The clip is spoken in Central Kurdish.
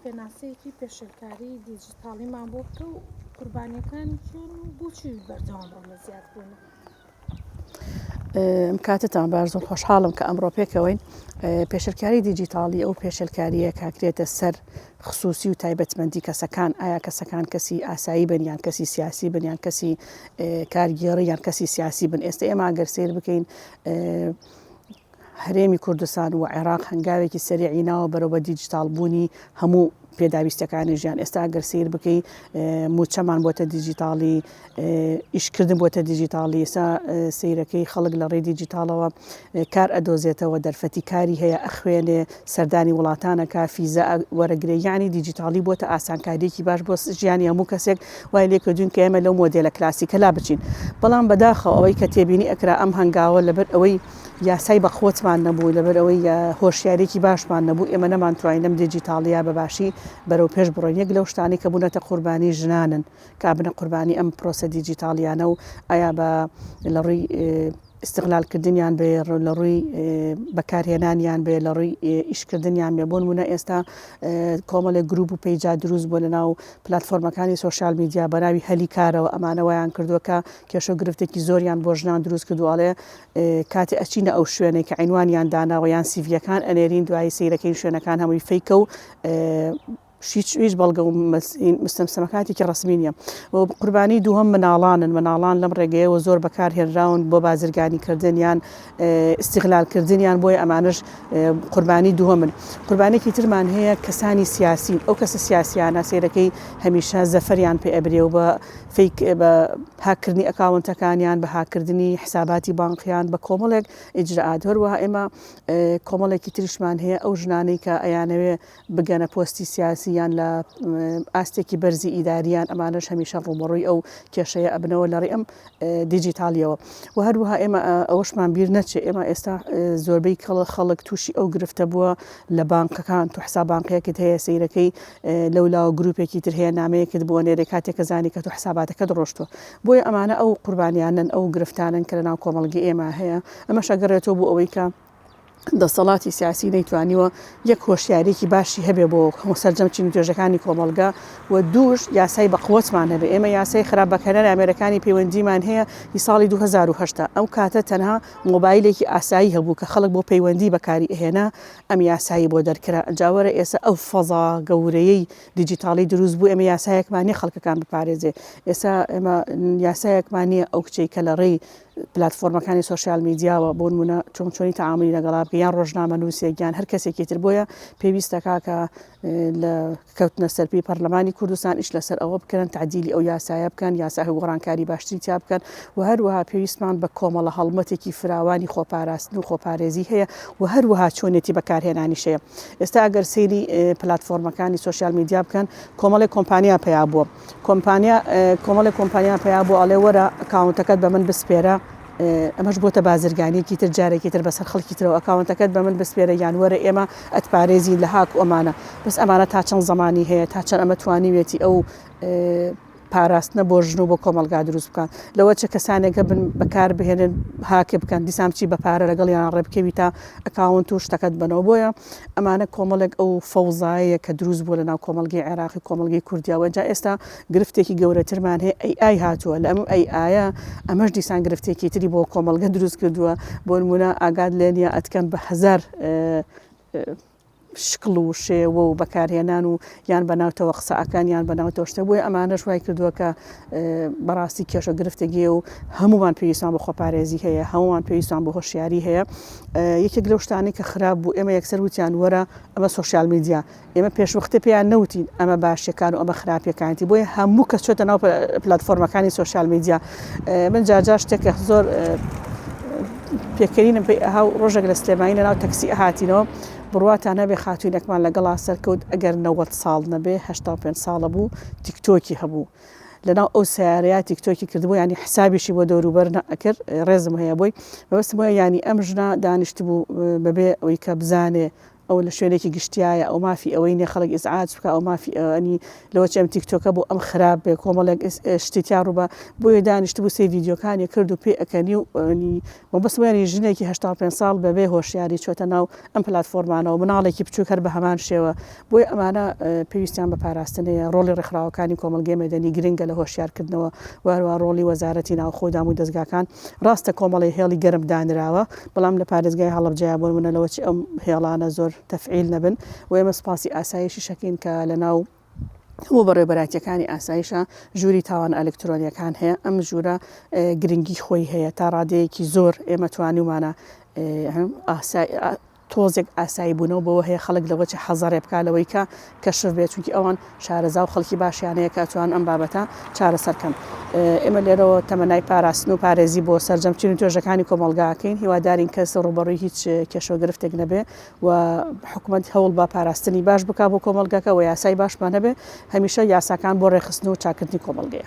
پێناسەیەکی پێشێلکاریی دیجیتاڵیمان بۆ بکە و قوربانییەکانی کێن و بۆچی بەردەوام ڕوو لە زیادبوونە؟ کاتتان باش زۆر خۆشحاڵم کە ئەمڕۆ پێکەوەین پێشلکاری دیجیتاڵی ئەو پێشلکاریە کاکرێتە سەر خصوصی و تایبەتمەندی کەسەکان ئایا کەسەکان کەسی ئاسایی بنیان کەسی سیاسی بنیان کەسی کارگێڕی یان کەسی سیاسی بن ئێستا ئێمە ئەگەر سیر بکەین هەرێمی کوردستان و عێراق هەنگاوێکی سەریعی ناوە بەرەو بە دیجیتاڵ بوونی هەموو پێداویستەکانی ژیان ئێستا گەر سیر بکەی موچەمان بۆتە دیجیتاڵی ئیشکردن بۆتە دیجیتاڵی ئێستا سیرەکەی خەڵک لە ڕێ دیجیتاڵەوە کار ئەدۆزێتەوە دەرفەتی کاری هەیە ئەخوێنێ سەردانی وڵاتانەکە فیزە وەرەگرێ یعنی دیجیتاڵی بۆتە ئاسانکاریەکی باش بۆ ژیانی هەموو کەسێک وای لێکردوین کە ئێمە لەو مۆدێلە کلاسیکەلا بچین بەڵام بەداخەوە ئەوەی کە تێبینی ئەکرا ئەم هەنگاوە لەبەر ئەوەی یاسای بەقوەتمان نەبوو، لەبەرئەوەی هۆشیاریەکی باشمان نەبوو، ئێمە نەمانتوانی لەم دیجیتاڵیە بەباشی بەرەوپێش بڕۆین، یەک لەو شتانەی کە بونەتە قوربانی ژنانن کە ئابنە قوربانی ئەم پرۆسە دیجیتاڵیانە و ئایا بە لەڕووی ئیستغلالکردنیان بێ لەڕووی بەکارهێنانیان بێ لەڕووی ئیشکردنیان بێ بۆن وونە ئێستا کۆمەڵێک گروپ و پەیجا دروست بۆ لەناو پلتفۆرمەکانی سوۆشال میدیا بەناوی هەلی کارەوە ئەمانەوەیان کردووە کە کێشە گرفتێکی زۆریان بۆ ژنان دروست کردوواڵێ کاتێ ئەچینە ئەو شوێنەی کە عینوانیان داناوە یان سیڤیەکان ئەنێرین دوایی سیرەکەین شوێنەکان هەمووی فیکە و هیچ بەڵگە و مستەمسەمەکاتێکی ڕسمی نیە و قوربانی دووهم مناڵانن مناڵان لەم ڕێگەیەوە زۆر بەکار هێنراون بۆ بازرگانی کردنیان استیغلال کردنیان بۆی ئەمانش قوربانی دووەمن قوربانێکی ترمان هەیە کەسانی سیاسین ئەو کەسە سیاسیانە سێرەکەی هەمیشە زەفەریان پێ ئەبرێ و بە فیک، بە هاک کردنی ئەکاونتەکانیان، بە هاک کردنی حساباتی بانقیان، بە کۆمەڵێک ئیجرائات، هەروەها ئێمە کۆمەڵێکی تریشمان هەیە ئەو ژنانەی کە ئەیانەوێ بگەنە پۆستی سیاسی یان لە ئاستێکی بەرزی ئیداریان ئەمانەش هەمیشە ڕووبەڕووی ئەو کێشەیە ئەبنەوە لە ڕێ ئەم دیجیتاڵیەوە و هەروەها ئێمە ئەوەشمان بیر نەچێ ئێمە ئێستا زۆربەی کەڵە خەڵک تووشی ئەو گرفتە بووە لە بانقەکان تو حساب بانقیەکت هەیە سیرەکەی لەولاوە گروپێکی تر هەیە نامەیەکت بۆ نێرێ کاتێ کە زانی کە تۆ حساباتەکەت ڕۆشتوە بۆیە ئەمانە ئەو قوربانیانەن ئەو گرفتانەن کە لەناو کۆمەڵگەی ئێمە هەیە ئەمەش ئەگەڕێتەوە بۆ ئەوەی کە دەسەڵاتی سیاسی نەیتوانیوە یەک هۆشیارێکی باشی هەبێ بۆ هەموو سەررجەم چین توێژەکانی کۆمەلگا و دووش یاسای بەقوتمان هەبێ ئێمە یاسای خراپ بەکەنەر ئامێرەکانی پەیوەندیمان هەیە هی ساڵی 2010 ئەو کاتە تەنها مۆبایلێکی ئاسایی هەبوو کە خەڵک بۆ پەیوەندی بەکاری ئەهێنا ئەم یاسایەی بۆ دەرکرا، جا وەرە ئێستا ئەو فەزا گەورەیەی دیجیتاڵی دروست بوو، ئێمە یاسایەکمان نییە خەڵکەکان بپارێزێ، ئێستا ئێمە یاسایەکمان نییە ئەو کچەی کە لە ڕێی پلاتفۆرمەکانی سۆشیال میدیاوە بۆ نموونە چۆن چۆنی تەعامولی لەگەڵا بکەی یان ڕۆژنامەنووسێک یان هەر کەسێکی تر، بۆیە پێویستە کاکە لە کەوتنە سەرپێی پەرلەمانی کوردستان ئیش لەسەر ئەوە بکەن تەعدیلی ئەو یاسایە بکەن، یاساهی گۆڕانکاری باشتری تیا بکەن و هەروەها پێویستمان بە کۆمەڵە هەڵمەتێکی فراوانی خۆپاراستن و خۆپارێزی هەیە و هەروەها چۆنێتی بەکارهێنانیش هەیە. ئێستا ئەگەر سەیری پلاتفۆرمەکانی سۆشیال میدیا بکەن کۆمەڵێک کۆمپانیا پەیا بووە، کۆمپانیا کۆمەڵێک کۆمپانیا پەیا بوو ئەڵێ وەرە ئەکاونتەکەت بە من بسپێرە ئەمەش بۆتە بازرگانیەکی تر جارێکی تر بەسەر خەڵکی ترەوە ئەکاونتەکەت بە من بسپێرە یان وەرە ئێمە ئەتپارێزین لە هاک ئۆمانە بەس ئەمانە تا چەند زمانی هەیە تا چەند ئەمە توانیوێتی ئەو پاراستنە بۆ ژن و بۆ کۆمەلگا دروست بکات لەوە چە کەسانێکە بن بەکار بهێنن هاکێ بکەن دیسان بچی بە پارە لەگەڵ یان ڕێبکەوی تا ئەکاونت و شتەکەت بەنەوە بۆیە ئەمانە کۆمەڵێک ئەو فەوزایە کە دروست بووە لەناو کۆمەڵگەی عێراقی کۆمەڵگەی کوردیا وەجا ئێستا گرفتێکی گەورەترمان هەیە ئەی ئای هاتووە لە ئەم ئەی ئایە ئەمەش دیسان گرفتێکی تری بۆ کۆمەڵگە دروست کردووە بۆنمونە ئاگات لێنیە ئەتکەم بە هەزار شکڵ و شێوە و بەکارهێنان و یان بە ناوتەوە قسە ئەکەن یان بە ناوتەوە شتە بۆیە ئەمانەش وای کردووە کە بەڕاستی کێشە گرفتێگێ و هەمومان پێویستان بە خۆپارێزی هەیە هەمومان پێویستان بۆ هۆشیاری هەیە یەکێک لەو شتانی کە خراپ بوو ئێمە یەکسەر وتیان وەرە ئەمە سوسیال میدیا ئێمە پێشوەختە پێیان نەوتین ئەمە باشەکان و ئەمە خراپەکانتی بۆیە هەموو کە چێتە ناو پلتفۆرمەکانی سوسیال میدیا من جار جار شتێکە زۆر پێکەرینم پێی ئەها و ڕۆژێک لە سلێمانی لە ناو تەکسی ئەهاتینەوە بڕواتان نەبێ خاتوینێکمان لەگەڵا سەرکەوت ئەگەر نەوەت ساڵ نەبێ هەشتا پێنج ساڵە بوو تیکتۆکی هەبوو لەناو ئەو سیارەیە تیکتۆکی کردبوو ینی حسابیشی بۆ دەوروبەر نەکرد ڕێزم هەیە بۆی بەبستم وە ینی ئەم ژنا دانیشت بوو بەبێ ئەوی کە بزانێ ئەو لە شوێنێکی گشتیایە ئەو مافی ئەوەی نیە خەڵک ئیزعاج بکا ئەو مافی ئەوەنی لەوەچی ئەم تیکتۆکە بۆ ئەم خراپ بێ کۆمەڵێک شتی تیا ڕووبە بۆیە دانیشت بوو سێ ڤیدیۆکانی کرد و پێ ئەکەنی و ئەنی مەبەست وێنی ژنێکی هەشتا و پێنج ساڵ بەبێ هۆشیاری چۆتە ناو ئەم پلاتفۆرمانەوە مناڵێکی بچووک هەر بە هەمان شێوە بۆیە ئەمانە پێویستیان بە پاراستن هەیە ڕۆڵی ڕێکخراوەکانی کۆمەڵگەی مەدەنی گرنگە لە هۆشیارکردنەوە و هەروە ڕۆڵی وەزارەتی ناوخۆ و دامودەزگاکان ڕاستە کۆمەڵێ هێڵی گەرم دانراوە بەڵام لە پارێزگای هەڵەبجەیە بۆ نموونە لەوەچی ئەم هێڵانە زۆر تەفعیل نەبن و ئێمە سوپاسی ئاسایشیشەکەین کە لەناو هەموو بەڕێوبەرایتیەکانی ئاسایشا ژووری تاوانە ئەلکترۆنیەکان هەیە ئەم ژوورە گرنگی خۆی هەیە تا ڕادەیەکی زۆر ئێمە توانیومانە ئاسای تۆزێک ئاسایی بوونەوە بەوە هەیە خەڵک لەوە چ حەزەڕێ بکا لەوەی کە کەشف بێ چونکی ئەوان شارەزا و خەڵکی باشیان هەیە کە توان ئەم بابەتە چارەسەر کەن ئێمە لێرەوە تەمەنای پاراستن و پارێزی بۆ سەرجەم چین و توێژەکانی کۆمەڵگا ئەکەین هیوادارین کەس ڕووبەڕووی هیچ کێشە و گرفتێک نەبێ و حکومەت هەوڵ بە پاراستنی باش بکا بۆ کۆمەڵگاکە و یاسای باشمان هەبێ هەمیشە یاساکان بۆ ڕێکخستن و چاککردنی کۆمەڵگەیە.